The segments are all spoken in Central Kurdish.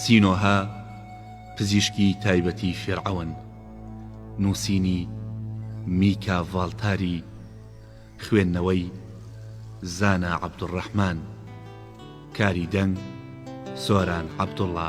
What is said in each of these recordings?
سینۆهە، پزیشکی تایبەتی فیرعەون. نووسینی، میکا ڤاڵتاری. خوێندنەوەی، زانا عەبدولڕەحمان. کاری دەنگ، سۆران عەبدوڵا.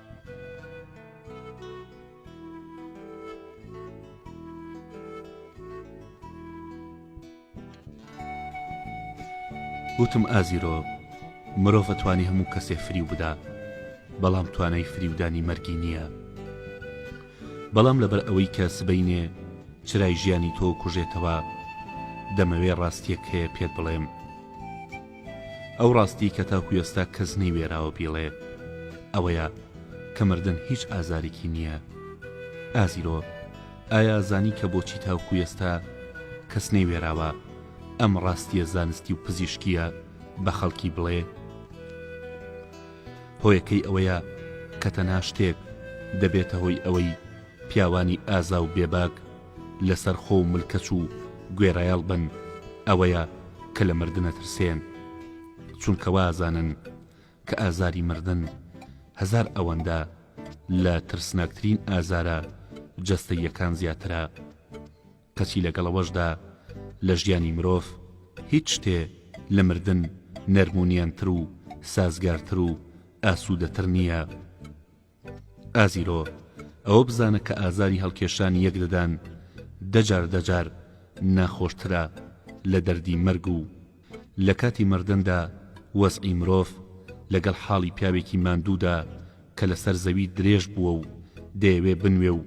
وتم ئازیرۆ مرۆڤ ئەتوانی هەموو کەسێ فریو بدا بەڵام توانای فریودانی مەرگی نییە بەڵام لەبەر ئەوەی کە سبەینێ چرای ژیانی تۆ کوژێتەوە دەمەوێ ڕاستیەک هەیە پێت بڵێم ئەو ڕاستیی کە تاکو ئێستا کەس نەیوێراوە بیڵێ ئەوەیە کە مردن هیچ ئازارێکی نییە. ئازیرۆ، ئایا زانی کە بۆچی تاکو ئێستا کەس نەیوێراوە ئەم ڕاستییە زانستی و پزیشکییە بە خەڵکی بڵێ؟ هۆیەکەی ئەوەیە کە تەنها شتێک دەبێتە هۆی ئەوەی پیاوانی ئازا و بێباک، لەسەر خۆ و ملکەچ و گوێڕایەڵ بن ئەوەیە کە لە مردن ئەترسێن چونکە وا ئەزانن کە ئازاری مردن هەزار ئەوەندە لە ترسناکترین ئازارە جەستەییەکان زیاترە کەچی لەگەڵ ئەوەشدا لە ژیانی مرۆڤ هیچ شتێ لە مردن نەرمونیانتر و سازگارتر و ئاسوودەتر نییە ئازیرۆ، ئەوە بزانە کە ئازاری هەڵکێشانی یەک ددان دە جار دە جار ناخۆشترە لە دەردی مەرگ و لە کاتی مردندا وەزعی مرۆڤ لەگەڵ حاڵی پیاوێکی ماندوودا کە لەسەر زەوی درێژ بووە و دەیەوێ بنوێ و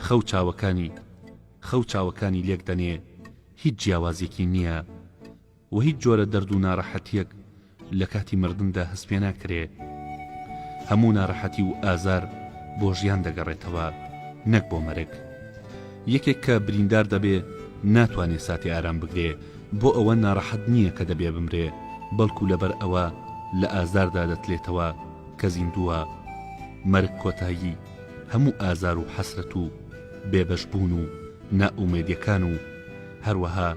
خەو چاوەکانی خەو چاوەکانی لێک دەنێ هیچ جیاوازیەکی نیە وە هیچ جۆرە دەرد و نارەحەتیەک لە کاتی مردندا هەست پێ ناکرێ هەموو نارەحەتی و ئازار بۆ ژیان دەگەڕێتەوە نەک بۆ مەرگ یەکێک کە بریندار دەبێ ناتوانێ ساتی ئارام بگرێ بۆ ئەوە نارەحەت نییە کە دەبێ بمرێ بەڵکو لەبەر ئەوە لە ئازاردا دەتلێتەوە کە زیندووە مەرگ کۆتایی هەموو ئازار و حەسرەت و بێبەش بوون و نائومێدیەکان و هەروەها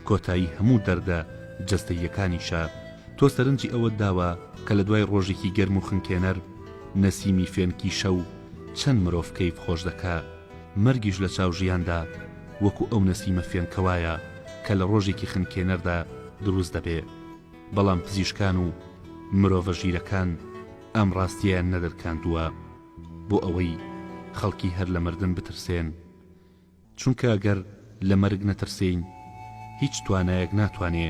کۆتایی هەموو دەردە جەستەییەکانیشە، تۆ سەرنجی ئەوەت داوە کە لە دوای ڕۆژێکی گەرم و خنکێنەر، نەسیمی فێنکی شەو چەند مرۆڤ کەیف خۆش دەکا، مەرگیش لە چاو ژیاندا وەکو ئەو نەسیمە فێنکە وایە کە لە ڕۆژێکی خنکێنەردا دروست دەبێ، بەڵام پزیشکان و مرۆڤە ژیرەکان ئەم ڕاستیەیان نەدەرکاندووە بۆ ئەوەی خەڵکی هەر لە مردن بترسێن، چونکە گەر لە مەرگ نەترسێین هیچ توانایەک ناتوانێ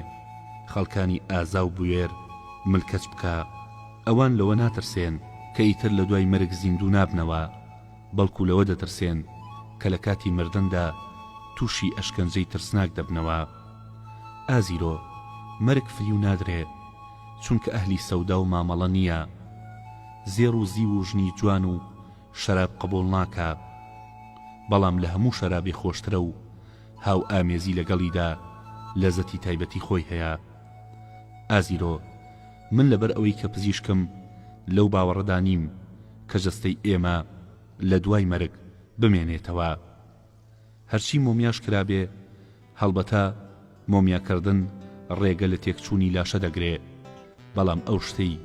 خەڵکانی ئازا و بوێر ملکەچ بکا، ئەوان لەوە ناترسێن کە ئیتر لە دوای مەرگ زیندوو نابنەوە، بەڵکو لەوە دەترسێن کە لە کاتی مردندا تووشی ئەشکەنجەی ترسناک دەبنەوە. ئازیرۆ، مەرگ فریو نادرێ، چونکە ئەهلی سەودا و مامەڵە نییە. زێڕ و زیو و ژنی جوان و شەراب قبوڵ ناکا بەڵام لە هەموو شەرابێ خۆشترە و هاو ئامێزی لەگەڵیدا لەزەتی تایبەتی خۆی هەیە ئازیرۆ من لەبەر ئەوەی کە پزیشکم لەو باوەڕەدا نیم کە جەستەی ئێمە لە دوای مەرگ بمێنێتەوە هەرچی مۆمیاش کرابێ، هەڵبەتە مۆمیاکردن ڕێگە لە تێکچوونی لاشە دەگرێ، بەڵام ئەو شتەی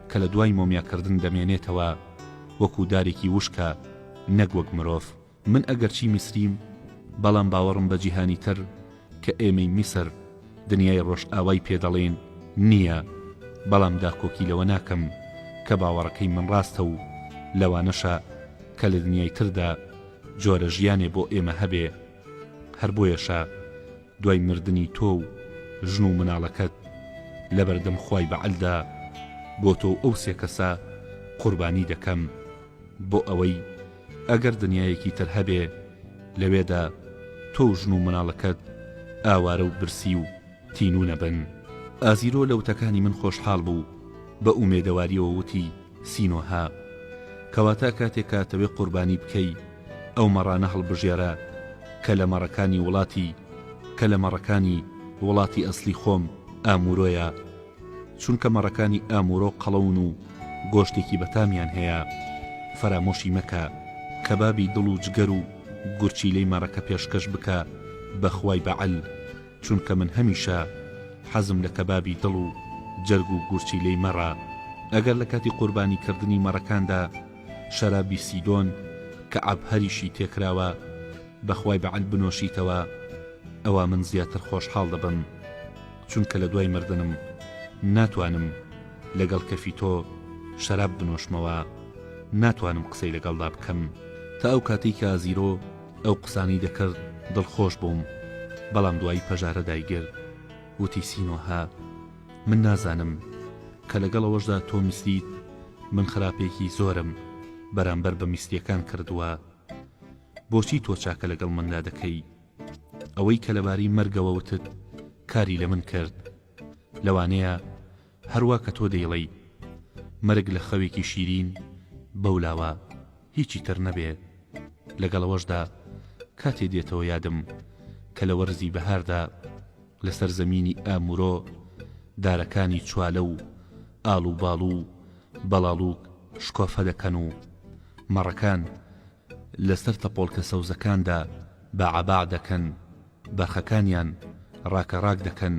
کە لە دوای مۆمیاکردن دەمێنێتەوە وەکوو دارێکی وشکە نەک وەک مرۆڤ. من ئەگەرچی میسریم، بەڵام باوەڕم بە جیهانی تر کە ئێمەی میسر، دنیای ڕۆژئاوای پێ دەڵێن، نییە، بەڵام داکۆکی لەوە ناکەم کە باوەڕەکەی من ڕاستە و لەوانەشە کە لە دنیای تردا، جۆرە ژیانێ بۆ ئێمە هەبێ هەر بۆیەشە دوای مردنی تۆ و ژن و مناڵەکەت لەبەردەم خوای بەعەلدا بۆ تۆ و ئەو سێ کەسە قوربانی دەکەم بۆ ئەوەی ئەگەر دنیایەکی تر هەبێ لەوێدا تۆ و ژن و مناڵەکەت ئاوارە و برسی و تینوو نەبن. ئازیرۆ لە وتەکانی من خۆشحاڵ بوو، بە ئومێدەواریەوە وتی، سینۆهە. کەواتە کاتێک کاتەوێ قوربانی بکەی ئەو مەڕانە هەڵبژێرە کە لە مەڕەکانی وڵاتی کە لە مەڕەکانی وڵاتی ئەسڵی خۆم، ئامورۆیە. چونکە مەڕەکانی ئامورۆ قەڵەون و گۆشتێکی بەتامیان هەیە. فەرامۆشی مەکە. کەبابی دڵ و جگەر و گورچیلەی مەڕەکە پێشکەش بکە بە خوای بەعەل. چونکە من هەمیشە حەزم لە کەبابی دڵ و جەرگ و گورچیلەی مەڕە، ئەگەر لە کاتی قوربانی کردنی مەڕەکاندا شەرابی سیدۆن کە عەبهەریشی تێکراوە بەخوای بەعەل بنۆشیتەوە ئەوا من زیاتر خۆشحاڵ دەبم چونکە لە دوای مردنم ناتوانم لەگەڵ کەفی تۆ شەراب بنۆشمەوە ناتوانم قسەی لەگەڵدا بکەم تا ئەو کاتەی کە ئازیرۆ ئەو قسانەی دەکرد دڵخۆش بووم بەڵام دوایی پەژارە دایگرت وتی سینۆهە من نازانم کە لەگەڵ ئەوەشدا تۆ میسریت من خراپێکی زۆرم بەرامبەر بە میسریەکان کردووە بۆچی تۆ چاکە لەگەڵ مندا دەکەی ئەوەی کە لەبارەی مەرگەوە وتت کاری لە من کرد لەوانەیە هەروا کە تۆ دەیڵێی مەرگ لە خەوێکی شیرین بەو لاوە هیچی تر نەبێ لەگەڵ ئەوەشدا کاتێ دێتەوە یادم کە لە وەرزی بەهاردا لە سەر زەمینی ئامورۆ دارەکانی چوالە و ئاڵوباڵ و بەڵاڵوک شکۆفە دەکەن و مەڕەکان لەسەر تەپۆڵکە سەوزەکاندا باعباع دەکەن، بەرخەکانیان ڕاکەڕاک دەکەن،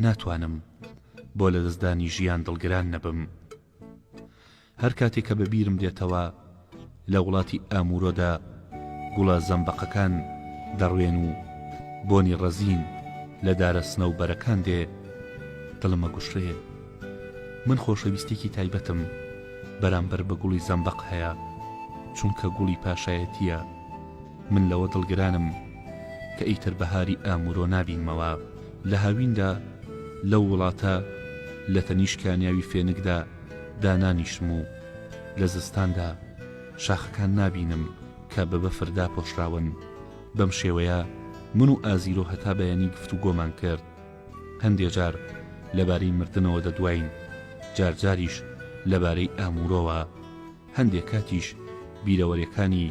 ناتوانم بۆ لەدەستدانی ژیان دڵگران نەبم. هەر کاتێ کە بەبیرم دێتەوە لە وڵاتی ئامورۆدا گوڵە زەمبەقەکان دەڕوێن و بۆنی ڕەزین لە دارە سنەوبەرەکان دێ، دڵم ئەگوشرێ. من خۆشەویستیەکی تایبەتم بەرامبەر بە گوڵی زەمبەق هەیە چونکە گوڵی پاشایەتیە من لەوە دڵگرانم کە ئیتر بەهاری ئامورۆ نابینمەوە لە هاویندا لەو وڵاتە لە تەنیشت کانیاوی فێنکدا دانانیشم و لە زستاندا شاخەکان نابینم کە بە بەفر داپۆشراون بەم شێوەیە من و ئازیرۆ هەتا بەیانی گفتوگۆمان کرد هەندێ جار لەبارەی مردنەوە دەدواین، جار جاریش لەبارەی ئاموورەوە، هەندێ کاتیش بیرەوەرێکانی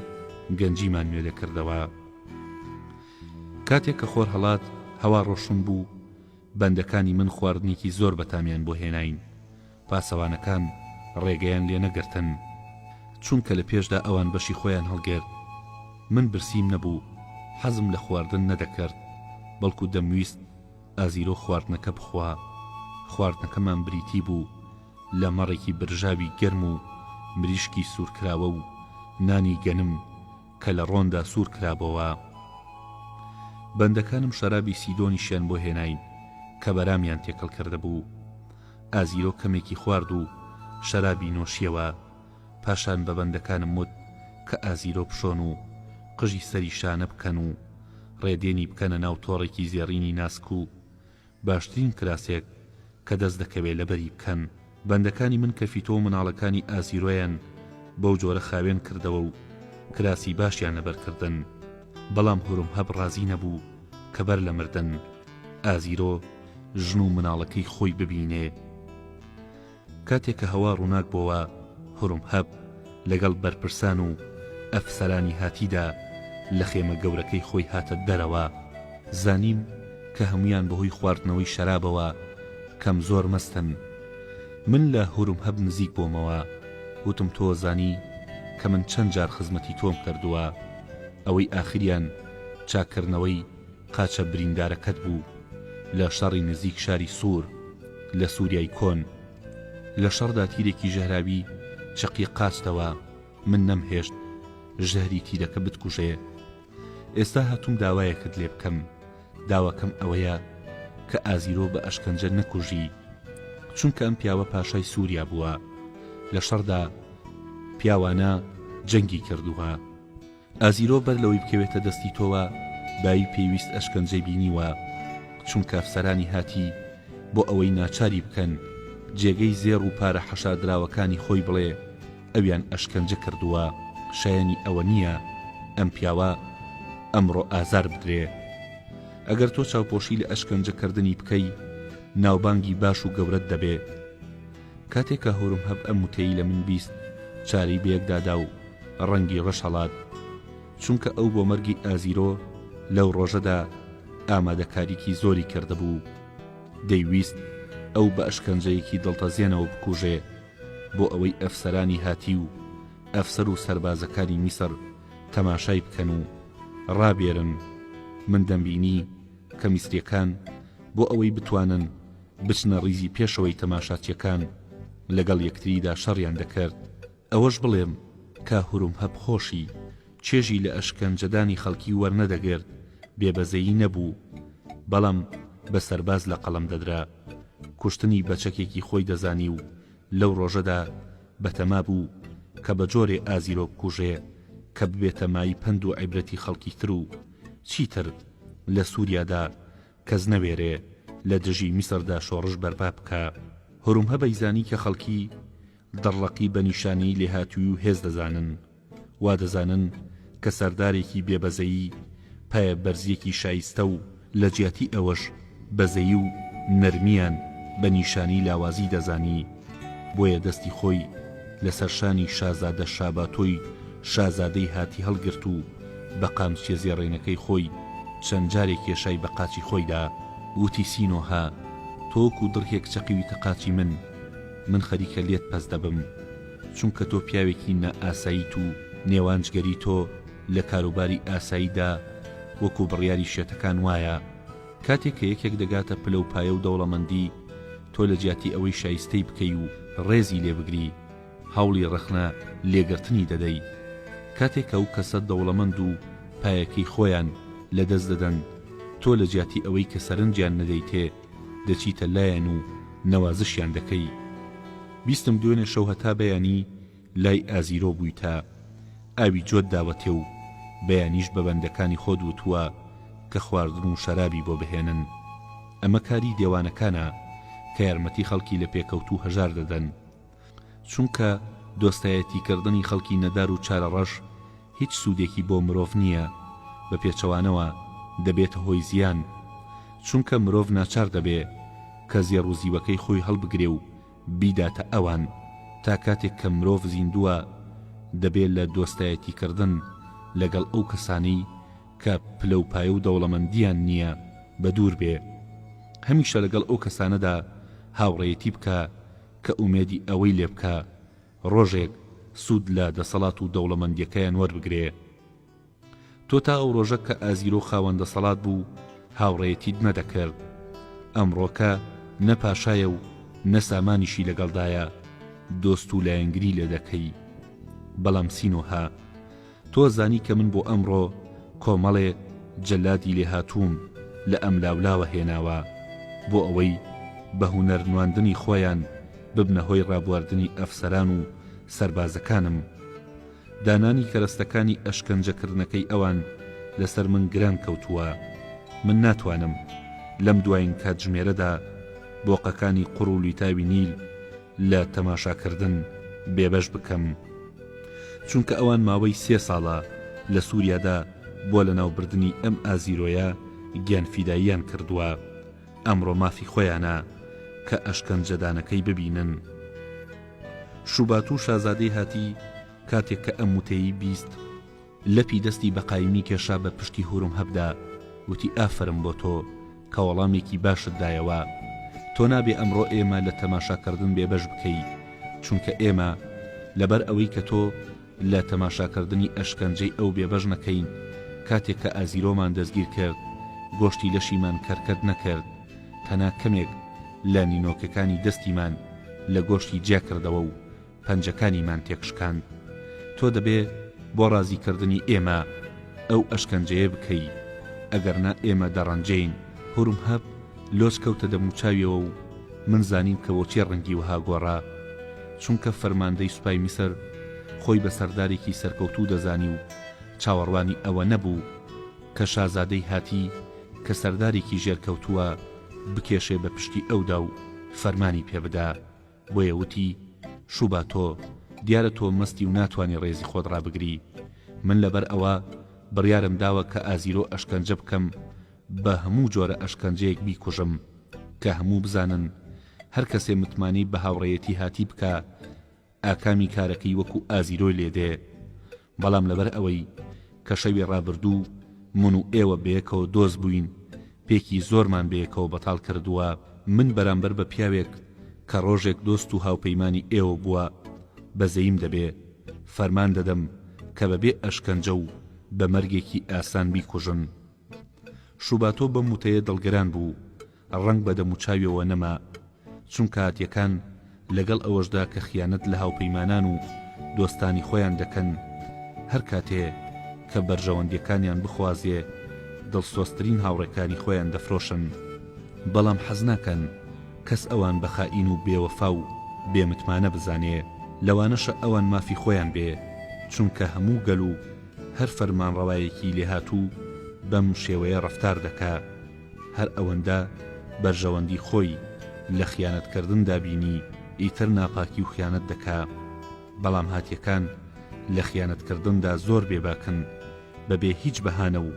گەنجیمان نوێ دەکردەوە. کاتێک کە خۆر هەڵات، هەوا ڕۆشن بوو، بەندەکانی من خواردنێکی زۆر بەتامیان بۆ هێناین، پاسەوانەکان ڕێگەیان لێ نەگرتن چونکە لە پێشدا ئەوان بەشی خۆیان هەڵگرت من برسیم نەبوو حەزم لە خواردن نەدەکرد بەڵکو دەمویست ئازیرۆ خواردنەکە بخوا خواردنەکەمان بریتی بوو لە مەڕێکی برژاوی گەرم و مریشکی سوورکراوە و نانی گەنم کە لە ڕۆندا سوور کرابۆوە بەندەکانم شەرابی سیدۆنیشیان بۆ هێناین کە بەرامیان تێکەڵ کردبوو ئازیرۆ کەمێکی خوارد و شەرابی نۆشیەوە، پاشان بە بەندەکانم وت کە ئازیرۆ بشۆن و قژی سەری شانە بکەن و ڕێدێنی بکەنە ناو تۆڕێکی زێڕینی ناسک و باشترین کراسێک کە دەست دەکەوێ لەبەری بکەن. بەندەکانی من کە فیتۆ و مناڵەکانی ئازیرۆیان بەو جۆرە خاوێن کردەوە و کراسی باشیان لەبەر کردن، بەڵام هورمهەب ڕازی نەبوو کە بەر لە مردن ئازیرۆ، ژن و مناڵەکەی خۆی ببینێ کاتێ کە هەوا ڕوناک بۆوە هورمهەب لەگەڵ بەرپرسان و ئەفسەرانی هاتیدا لە خێمە گەورەکەی خۆی هاتە دەرەوە زانیم کە هەمویان بەهۆی خواردنەوەی شەرابەوە کەم زۆر مەستن من لە هورمهەب نزیک بۆمەوە وتم تۆ زانی کە من چەند جار خزمەتی تۆم کردوە ئەوەی ئاخریان چاککردنەوەی قاچە بریندارەکەت بوو لە شەڕی نزیک شاری سوور لە سووریای کۆن. لە شەڕدا تیرێکی ژەهراوی چەقی قاچتەوە، من نەمهێشت ژەهری تیرەکە بتکوژێ. ئێستا هاتووم داوایەکت لێ بکەم، داواکەم ئەوەیە کە ئازیرۆ بە ئەشکەنجە نەکوژی، چونکە ئەم پیاوە پاشای سووریا بووە، لە شەڕدا پیاوانە جەنگی کردووە. ئازیرۆ بەر لەوەی بکەوێتە دەستی تۆوە بایی پێویست ئەشکەنجەی بینیوە چونکە ئەفسەرانی هاتی بۆ ئەوەی ناچاری بکەن جێگەی زێڕ و پارە حەشاردراوەکانی خۆی بڵێ ئەویان ئەشکەنجە کردووە شایەنی ئەوە نییە ئەم پیاوە ئەمڕۆ ئازار بدرێ ئەگەر تۆ چاوپۆشی لە ئەشکەنجەکردنی بکەی ناوبانگی باش و گەورەت دەبێ. کاتێ کە هورم هەب ئەم وتەی لە من بیست چاوی بە یەکدا دا و ڕەنگی ڕەش هەڵات چونکە ئەو بۆ مەرگی ئازیرۆ لەو ڕۆژەدا ئامادەکاریی زۆری کردبوو دەیویست ئەو بە ئەشکەنجەیەکی دڵتەزێنەوە بکوژێ بۆ ئەوەی ئەفسەرانی هاتی و ئەفسەر و سەربازەکانی میسر تەماشای بکەن و ڕابێرن من دەمبینی کە میسریەکان بۆ ئەوەی بتوانن بچنە ڕیزی پێشەوەی تەماشاچیەکان لەگەڵ یەکتریدا شەڕیان دەکرد ئەوەش بڵێم کە هورمهەب خۆشی چێژی لە ئەشکەنجەدانی خەڵکی وەرنەدەگرت بێ بەزەیی نەبوو بەڵام بە سەرباز لە قەڵەم دەدرا کوشتنی بە چەکێکی خۆی دەزانی و لەو ڕۆژەدا بەتەما بوو کە بە جۆرێ ئازیرۆ بکوژێ کە ببێتە مای پەند و عیبرەتی خەڵکی تر و چیتر لە سوریادا کەس نەوێرێ لە دژی میسردا شۆڕش بەرپا بکا. هورمهە بەیزانی کە خەڵکی دڕڵەقی بە نیشانەی لێهاتووی و هێز دەزانن. وا دەزانن کە سەردارێکی بێ بەزەیی، پایەبەرزییەکی شایستە و لە جیاتی ئەوەش بەزەیی و نەرمییان بە نیشانەی لاوازی دەزانی. بۆیە دەستی خۆی لە سەر شانی شازادە شاباتۆی شازادەی هاتی هەڵگرت و، بە قامچیە زێڕێنەکەی خۆی چەند جارێ کێشای بە قاچی خۆیدا ووتی سینۆهە تۆ وەکو دڕکێک چەقیویتە قاچی من من خەریکە لێت پەست دەبم چونکە تۆ پیاوێکی نا ئاساییت و نێوان جگەری تۆ لە کاروباری ئاساییدا وەکو بڕیاری شێتەکان وایە کاتێک کە یەکێک دەگاتە پلە و پایە و دەوڵەمەندی تۆ لە جیاتی ئەوەی شایستەی بکەی و ڕێزی لێ بگری هەوڵی ڕەخنە لێگرتنی دەدەی کاتێک ئەو کەسە دەوڵەمەند و پایەکەی خۆیان لە دەست دەدەن تۆ لە جیاتی ئەوەی کە سەرنجیان نەدەیتێ دەچیتە لایان و نەوازشیان دەکەی بیستم دوێنێ شەو هەتا بەیانی لای ئازیرۆ بوویتە ئاوی جۆت داوەتێ و بەیانیش بە بەندەکانی خۆت وتووە کە خواردن و شەرابی بۆ بهێنن ئەمە کاری دێوانەکانە کە یارمەتی خەڵکی لە پێکەوتوو هەژار دەدەن چونکە دۆستایەتیکردنی خەڵکی نەدار و چارەڕەش هیچ سوودێکی بۆ مرۆڤ نییە، بە پێچەوانەوە دەبێتە هۆی زیان، چونکە مرۆڤ ناچار دەبێ کە زێڕ و زیوەکەی خۆی هەڵبگرێ و بیداتە ئەوان، تا کاتێک کە مرۆڤ زیندووە دەبێ لە دۆستایەتیکردن لەگەڵ ئەو کەسانەی کە پلەوپایە و دەوڵەمەندییان نییە بەدوور بێ، هەمیشە لەگەڵ ئەو کەسانەدا هاوڕێیەتی بکا کە ئومێدی ئەوەی لێ بکا ڕۆژێک سوود لە دەسەڵات و دەوڵەمەندیەکەیان وەربگرێ. تۆ تا ئەو ڕۆژە کە ئازیرۆ خاوەن دەسەڵات بوو هاوڕێیەتیت نەدەکرد. ئەمڕۆکە نە پاشایە و نە سامانیشی لەگەڵدایە دۆست و لایەنگری لێ دەکەی. بەڵام سینۆهە تۆ زانی کە من بۆ ئەمڕۆ کۆمەڵێ جەلادی لێهاتووم لە ئەملاولاوە هێناوە بۆ ئەوەی بە هونەر نواندنی خۆیان ببنە هۆی ڕابواردنی ئەفسەران و سەربازەکانم. دانانی کەرەستەکانی ئەشکەنجە کردنەکەی ئەوان لەسەر من گران کەوتووە. من ناتوانم لەم دوایین کاتژمێرەدا بۆقەکانی قوڕ و لویتاوی نیل، لە تەماشاکردن بێبەش بکەم، چونکە ئەوان ماوەی سێ ساڵە لە سوریادا بۆ لەناوبردنی ئەم ئازیرۆیە گیانفیداییان کردووە، ئەمڕۆ مافی خۆیانە کە ئەشکەنجەدانەکەی ببینن. شوباتو شازادەی هاتی کاتێک کە ئەم وتەیەی بیست، لەپی دەستی بە قایمی کێشا بە پشتی هورومهەبدا وتی ئافەرم بۆ تۆ کە وەڵامێکی باشت دایەوە تۆ نابێ ئەمڕۆ ئێمە لە تەماشاکردن بێبەش بکەی چونکە ئێمە لەبەر ئەوەی کە تۆ لە تەماشاکردنی ئەشکەنجەی ئەو بێبەش نەکەین کاتێک کە ئازیرۆمان دەستگیر کرد گۆشتی لەشیمان کەرکەد نەکرد تەنا کەمێک لە نینۆکەکانی دەستیمان لە گۆشتی جیاکردەوە و پەنجەکانیمان تێکشکاند، تۆ دەبێ بۆ ڕازیکردنی ئێمە ئەو ئەشکەنجەیە بکەی، ئەگەرنا ئێمە دەڕەنجێین. هورمهەب لۆچ کەوتە دەموچاویەوە و من زانیم کە بۆچی ڕەنگی وەها گۆڕا. چونکە فەرماندەی سوپای میسر خۆی بە سەردارێکی سەرکەوتوو دەزانی و چاوەڕوانی ئەوە نەبوو کە شازادەی هاتی کە سەردارێکی ژێرکەوتووە بکێشێ بە پشتی ئەودا و فەرمانی پێ بدا. بۆیە وتی، شووبا تۆ، دیارە تۆ مەستی و ناتوانی ڕێزی خۆت ڕابگری، من لەبەر ئەوە بڕیارم داوە کە ئازیرۆ ئەشکەنجە بکەم، بە هەموو جۆرە ئەشکەنجەیەک بیکوژم، کە هەموو بزانن، هەر کەسێ متمانەی بە هاوڕێیەتی هاتی بکا، ئاکامی کارەکەی وەکوو ئازیرۆی لێ دێ. بەڵام لەبەر ئەوەی کە شەوی ڕابردوو من و ئێوە بەیەکەوە دۆست بووین پێکی زۆرمان بەیەکەوە بەتاڵ کردووە من بەرامبەر بە پیاوێک کە ڕۆژێک دۆست و هاوپەیمانی ئێوە بووە بەزەیم دەبێ فەرمان دەدەم کە بە بێ ئەشکەنجە و بە مەرگێکی ئاسان بیکوژن شوباتۆ بەم وتەیە دڵگران بوو ڕەنگ بە دەموچاویەوە نەما چونکە هاتیەکان لەگەڵ ئەوەشدا کە خیانەت لە هاوپەیمانان و دۆستانی خۆیان دەکەن هەر کاتێ کە بەرژەوەندیەکانیان بخوازێ دڵسۆزترین هاوڕێکانی خۆیان دەفرۆشن بەڵام حەز ناکەن کەس ئەوان بە خائین و بێ وەفا و بێ متمانە بزانێ لەوانەشە ئەوان مافی خۆیان بێ چونکە هەموو گەل و هەر فەرمانڕەوایەکی لێهاتوو بەم شێوەیە ڕەفتار دەکا. هەر ئەوەندە بەرژەوەندی خۆی لە خیانەت کردندا بینی ئیتر ناپاکی و خیانەت دەکا بەڵام هاتیەکان لە خیانەت کردندا زۆر بێ باکن بە بێ هیچ بەهانە و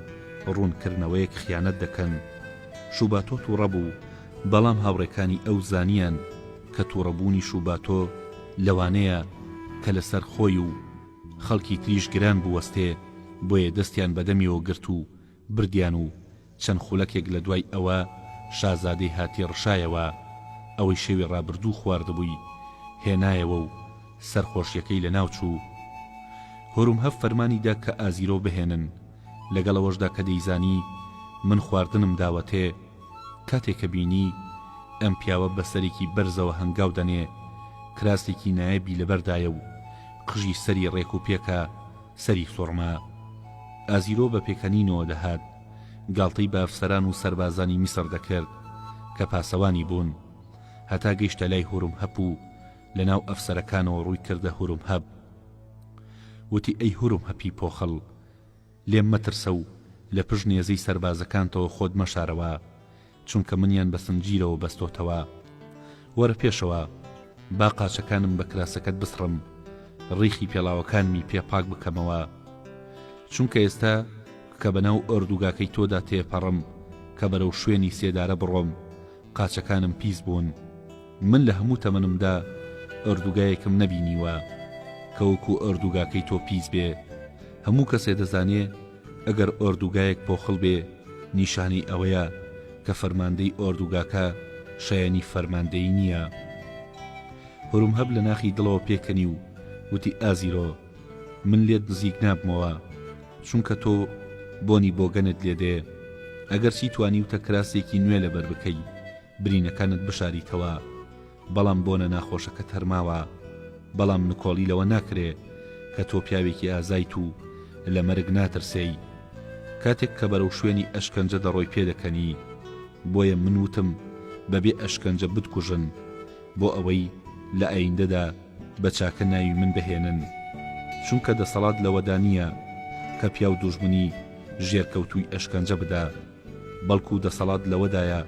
ڕوون کردنەوەیەک خیانەت دەکەن شوباتۆ توڕە بوو بەڵام هاوڕێکانی ئەو زانیان کە توڕە بوونی شوباتۆ لەوانەیە کە لە سەر خۆی و خەڵکی تریش گران بوەستێ بۆیە دەستیان بە دەمیەوە گرت و بردیان و چەند خولەکێک لە دوای ئەوە شازادەی هاتی ڕشایەوە ئەوەی شەوی ڕابردوو خواردبووی هێنایەوە و سەرخۆشیەکەی لەناو چوو هورمهەب فەرمانی دا کە ئازیرۆ بهێنن لەگەڵ ئەوەشدا کە دەیزانی من خواردنم داوەتێ کاتێ کە بینی ئەم پیاوە بە سەرێکی بەرزەوە هەنگاو دەنێ کراسێکی نایەبی لەبەردایە و قژی سەری ڕێک و پێکە سەری سوڕما. ئازیرۆ بە پێکەنینەوە دەهات، گاڵتەی بە ئەفسەران و سەربازانی میسڕ دەکرد، کە پاسەوانی بوون. هەتا گەیشتە لای هورمهەپ و لە ناو ئەفسەرەکانەوە ڕووی کردە هورمهەپ. وتی، ئەی هورمهەپی پۆخڵ! لێم مەترسە و لە پشت نێزەی سەربازەکانتەوە خۆت مەشارەوە. چونکە منیان بە سنجیرەوە بەستۆتەوە. وەرە پێشەوە، با قاچەکانم بە کراسەکەت بسڕم، ڕیخی پێڵاوەکانمی پێ پاک بکەمەوە. چونکە ئێستا کە بەناو ئۆردوگاکەی تۆدا تێپەڕم کە بەرەو شوێنی سێدارە بڕۆم، قاچەکانم پیس بوون. من لە هەموو تەمەنمدا ئۆردوگایەکم نەبینیوە کە وەکو ئۆردوگاکەی تۆ پیس بێ. هەموو کەسێ دەزانێ، ئەگەر ئۆردوگایەک پۆخڵ بێ نیشانەی ئەوەیە کە فەرماندەی ئۆردوگاکە شایەنی فەرماندەیی نییە. هورمهب لە ناخی دڵەوە پێکەنی و وتی ئازیرۆ من لێت نزیک نابمەوە چونکە تۆ بۆنی بۆگەنت لێ دێ ئەگەرچی توانیوتە کراسێکی نوێ لەبەر بکەی برینەکانت بشاریتەوە بەڵام بۆنە ناخۆشەکەت هەر ماوە بەڵام نکۆڵی لەوە ناکرێ کە تۆ پیاوێکی ئازایت و لە مەرگ ناترسێی کاتێک کە بەرەو شوێنی ئەشکەنجە دەڕۆی پێدەکەنی بۆیە من وتم بەبێ ئەشکەنجە بتکوژن بۆ ئەوەی لە ئایندەدا بە چاکە ناوی من بهێنن چونکە دەسەڵات لەوەدا نییە کە پیاو دوژمنی ژێرکەوتووی ئەشکەنجە بدا. بەڵکو دەسەڵات لەوەدایە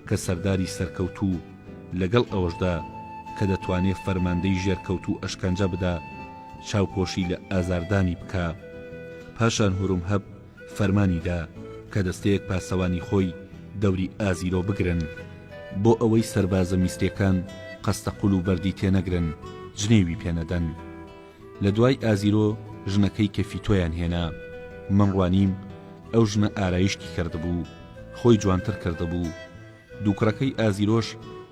کە سەرداری سەرکەوتوو لەگەڵ ئەوەشدا کە دەتوانێ فەرماندەی ژێرکەوتوو ئەشکەنجە بدا چاوپۆشی لە ئازاردانی بکا پاشان هورومهەب فەرمانی دا کە دەستەیەک پاسەوانی خۆی دەوری ئازیرۆ بگرن بۆ ئەوەی سەربازە میسریەکان قەستەقول و بەردی تێنەگرن جنێوی پێنەدەن لە دوای ئازیرۆ ژنەکەی کەفیتۆیان هێنا من ڕوانیم ئەو ژنە ئارایشتی کردبوو خۆی جوانتر کردبوو دووکڕەکەی ئازیرۆش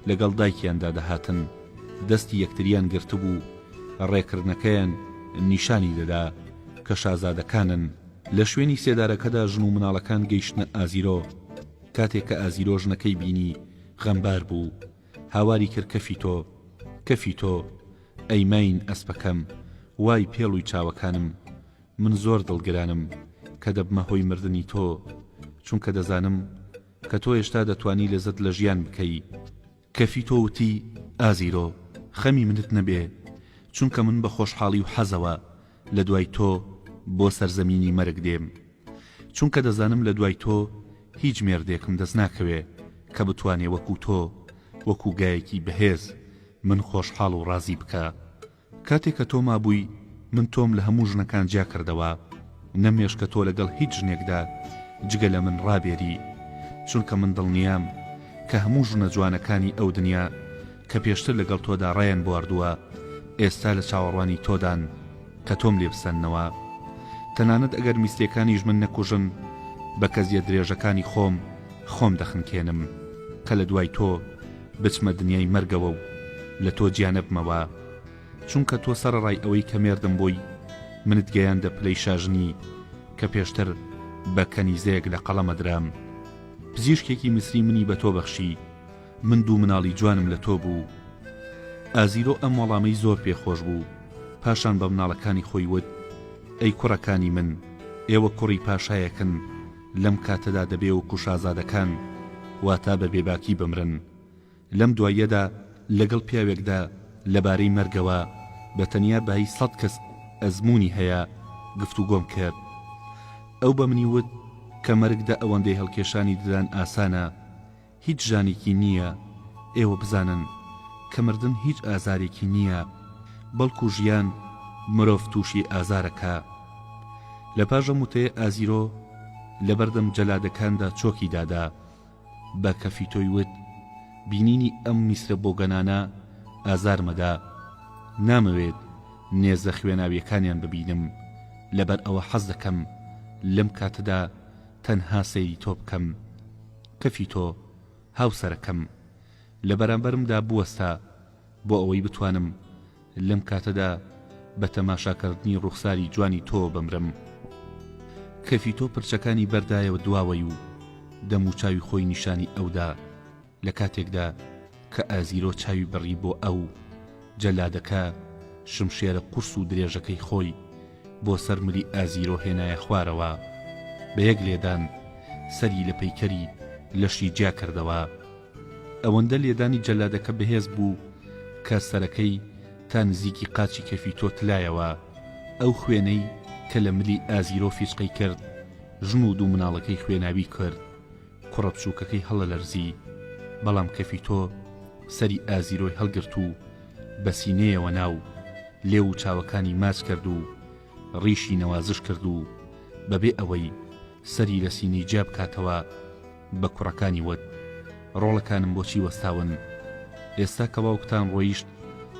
لەگەڵ دایکیاندا دەهاتن دەستی یەکتریان گرتبوو ڕێکردنەکەیان نیشانی دەدا کە شازادەکانن لە شوێنی سێدارەکەدا ژن و مناڵەکان گەیشتنە ئازیرۆ کاتێک کە ئازیرۆ ژنەکەی بینی غەمبار بوو هاواری کرد کەفی تۆ، کەفی تۆ، ئەی ماین ئەسپەکەم، وای پێڵوی چاوەکانم، من زۆر دڵگرانم کە دەبمە هۆی مردنی تۆ، چونکە دەزانم کە تۆ هێشتا دەتوانی لەزەت لە ژیان بکەی. کەفی تۆ وتی، ئازیرۆ، خەمی منت نەبێ، چونکە من بە خۆشحاڵی و حەزەوە لە دوای تۆ بۆ سەرزەمینی مەرگ دێم چونکە دەزانم لە دوای تۆ هیچ مێردێکم دەست ناکەوێ کە بتوانێ وەکوو تۆ وەکوو گایەکی بەهێز من خۆشحاڵ و ڕازی بکا کاتێ کە تۆ مابووی من تۆم لە هەموو ژنەکان جیا کردەوە نەمێش کە تۆ لەگەڵ هیچ ژنێکدا جگە لە من ڕابێری چونکە من دڵنیام کە هەموو ژنە جوانەکانی ئەو دنیا کە پێشتر لەگەڵ تۆدا ڕایان بواردووە، ئێستا لە چاوەڕوانی تۆدان کە تۆم لێ بسەننەوە. تەنانەت ئەگەر میسلیەکانیش من نەکوژن، بە کەزیە درێژەکانی خۆم خۆم دەخنکێنم، کە لە دوای تۆ بچمە دنیای مەرگەوە و لە تۆ جیا نەبمەوە. چونکە تۆ سەرەڕای ئەوەی کە مێردم بووی، منت گەیاندە پلەی شاژنی، کە پێشتر بە کەنیزەیەک لە قەڵەمە درام. پزیشکێکی میسری منی بە تۆ بەخشی. من دوو مناڵی جوانم لە تۆ بوو. ئازیرۆ ئەم وەڵامەی زۆر پێ خۆش بوو، پاشان بە مناڵەکانی خۆی وت، ئەی کوڕەکانی من، ئێوە کوڕی پاشایەکن، لەم کاتەدا دەبێ وەکوو شازادەکان، واتە بە بێباکی بمرن. لەم دواییەدا لەگەڵ پیاوێکدا لە بارەی مەرگەوە، بە تەنیا بایی سەد کەس ئەزموونی هەیە، گفتوگۆم کرد. ئەو بە منی وت کە مەرگ دە ئەوەندەی هەڵکێشانی ددان ئاسانە، هیچ ژانێکی نییە ئێوە بزانن کە مردن هیچ ئازارێکی نییە بەڵکو ژیان مرۆڤ تووشی ئازارەکا لە پاش ئەم وتەیە ئازیرۆ لە بەردەم جەلادەکاندا چۆکی دادا بە کەفیتۆی وت بینینی ئەم میسرە بۆگەنانە ئازارمەدا نامەوێت نێزە خوێناویەکانیان ببینم لەبەر ئەوە حەز دەکەم لەم کاتەدا تەنها سەیری تۆ بکەم کەفی تۆ هاوسەرەکەم لە بەرامبەرمدا بوەستە بۆ ئەوەی بتوانم لەم کاتەدا بە تەماشاکەردنی ڕوخساری جوانی تۆوە بمرم کەفی تۆ پرچەکانی بەردایەوە دواوەی و دەموچاوی خۆی نیشانی ئەودا لە کاتێکدا کە ئازیرۆ چاوی بڕی بۆ ئەو، جەلادەکە شمشێرە قورس و درێژەکەی خۆی بۆ سەر ملی ئازیرۆ هێنایە خوارەوە. بە یەک لێدان سەری لە پەیکەری لەشی جیا کردەوە. ئەوەندە لێدانی جەلادەکە بەهێز بوو کە سەرەکەی تا نزیکی قاچی کەفی تۆ تلایەوە. ئەو خوێنەی کە لە ملی ئازیرۆ فیچقەی کرد، ژن و دوو مناڵەکەی خوێناوی کرد. کوڕە بچووکەکەی هەڵەلەرزی، بەڵام کەفیتۆ سەری ئازیرۆی هەڵگرت و بە سینەیەوە نا و لێو و چاوەکانی ماچ کەرد و ڕیشی نەوازش کرد و بەبێ ئەوەی سەری لە سینەی جیا بکاتەوە بە کوڕەکانی وت، ڕۆڵەکانم بۆ چی وەستاون؟ ئێستا کە باوکتان ڕۆیشت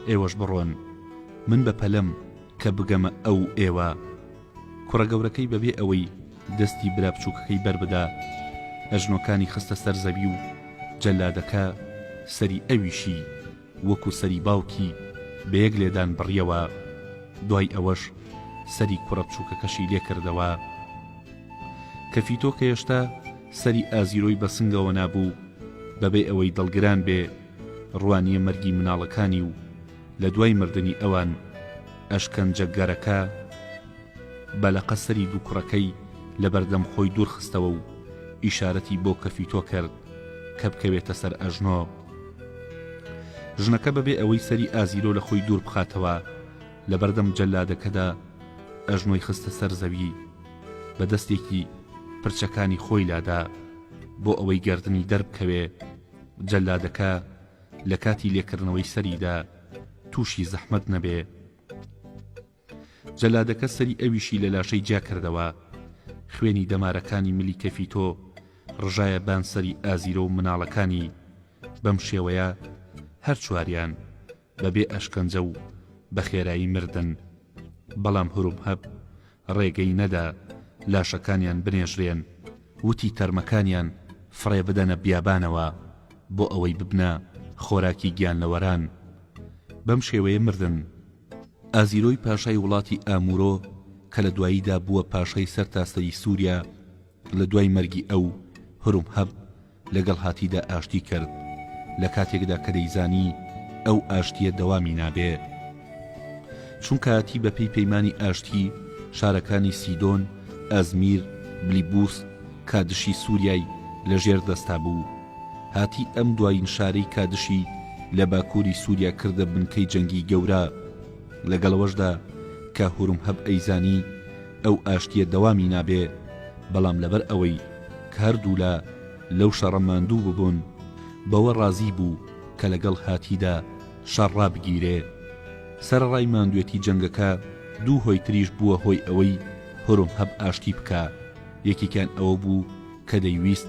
ئێوەش بڕۆن، من بە پەلەم کە بگەمە ئەو ئێوە. کوڕە گەورەکەی بەبێ ئەوەی دەستی برا بچووکەکەی بەربدا ئەژنۆکانی خستە سەر زەوی و جەلادەکە سەری ئەویشی وەکو سەری باوکی بە یەک لێدان بڕیەوە دوای ئەوەش سەری کوڕە بچووکەکەشی لێکردەوە کە فیتۆ کە هێشتا سەری ئازیرۆی بە سنگەوە نابوو بەبێ ئەوەی دڵگران بێ ڕوانیە مەرگی مناڵەکانی و لە دوای مردنی ئەوان ئەشکەنجە گەرەکە بە لەقە سەری دوو کوڕەکەی لە بەردەم خۆی دوور خستەوە و ئیشارەتی بۆ کەفیتۆ کرد کە بکەوێتە سەر ئەژنۆ ژنەکە بەبێ ئەوەی سەری ئازیرۆ لە خۆی دوور بخاتەوە لە بەردەم جەلادەکەدا ئەژنۆی خستە سەر زەوی بە دەستێکی پرچەکانی خۆی لادا بۆ ئەوەی گردنی دەربکەوێ جەلادەکە لە کاتی لێکردنەوەی سەریدا تووشی زەحمەت نەبێ جەلادەکە سەری ئەویشی لە لاشەی جیا کردەوە خوێنی دەمارەکانی ملی کەفی تۆ ڕژایە بان سەری ئازیرە و مناڵەکانی بەم شێوەیە هەر چواریان بەبێ ئەشکەنجە و بە خێرایی مردن بەڵام هرومهەب ڕێگەی نەدا لاشەکانیان بنێژرێن وتی تەرمەکانیان فڕێ بدەنە بیابانەوە بۆ ئەوەی ببنە خۆراکی گیانلەوەران بەم شێوەیە مردن ئازیرۆی پاشای وڵاتی ئامورۆ کە لە دواییدا بووە پاشای سەرتاسەری سووریا لە دوای مەرگی ئەو، هورمهەب لەگەڵ هاتیدا ئاشتی کرد، لە کاتێکدا کە دەیزانی ئەو ئاشتییە دەوامی نابێ. چونکە هاتی بەپێی پەیمانی ئاشتی، شارەکانی سیدۆن، ئەزمیر، بلیبوس، کادشی سوریای لە ژێر دەستا بوو. هاتی ئەم دوایین شارەی کادشی لە باکووری سوریا کردە بنکەی جەنگی گەورە. لەگەڵ ئەوەشدا کە هورمهەب ئەیزانی ئەو ئاشتیە دەوامی نابێ، بەڵام لەبەر ئەوەی کە هەردوولا لەو شەڕە ماندوو ببوون، بەوە ڕازی بوو کە لەگەڵ هاتیدا شەڕ ڕابگیرێ. سەرەڕای ماندوێتی جەنگەکە، دوو هۆی تریش بووە هۆی ئەوەی هورمهەب ئاشتی بکا. یەکێکیان ئەوە بوو کە دەیویست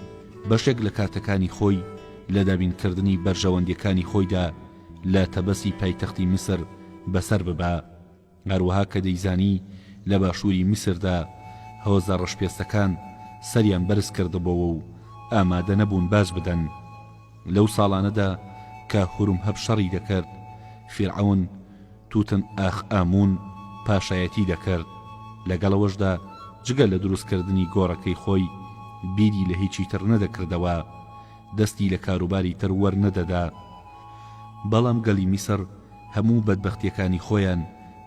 بەشێک لە کاتەکانی خۆی لە دابینکردنی بەرژەوەندیەکانی خۆیدا لە تەبەسی پایتەختی میسر بەسەر ببا. هەروەها کە دەیزانی لە باشووری میسردا هۆزە ڕەشپێستەکان سەریان بەرز کردبۆوە و ئامادە نەبوون باج بدەن. لەو ساڵانەدا کە هورمهەب شەڕی دەکرد، فیرعەون توتن ئاخ ئامون پاشایەتی دەکرد، لەگەڵ ئەوەشدا جگە لە دروستکردنی گۆڕەکەی خۆی بیری لە هیچی تر نەدەکردەوە، دەستی لە کاروباری تر وەرنەدەدا. بەڵام گەلی میسر، هەموو بەدبەختیەکانی خۆیان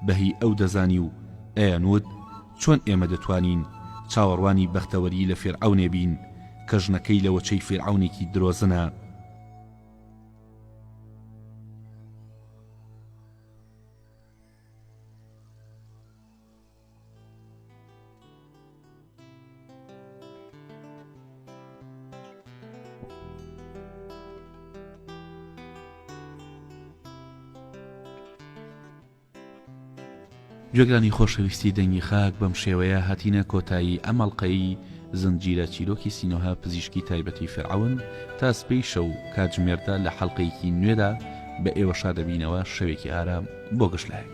بە هی ئەو دەزانی و ئەیانوت چۆن ئێمە دەتوانین چاوەڕوانی بەختەوەری لە فیرعەونێ بین کە ژنەکەی لە وەچەی فیرعەونێکی درۆزنە. گوێگرانی خۆشەویستی دەنگی خاک بەم شێوەیە هاتینە کۆتایی ئەم ئەڵلقەی زنجیرە چیرۆکی سینۆها پزیشکی تایبەتی فرعون تا سپی شەو کاتژمێردا لە حەڵلقەیەکی نوێدا بە ئێوە شادەبینەوە شەوێکی ئارام بۆ گەشتلایەک.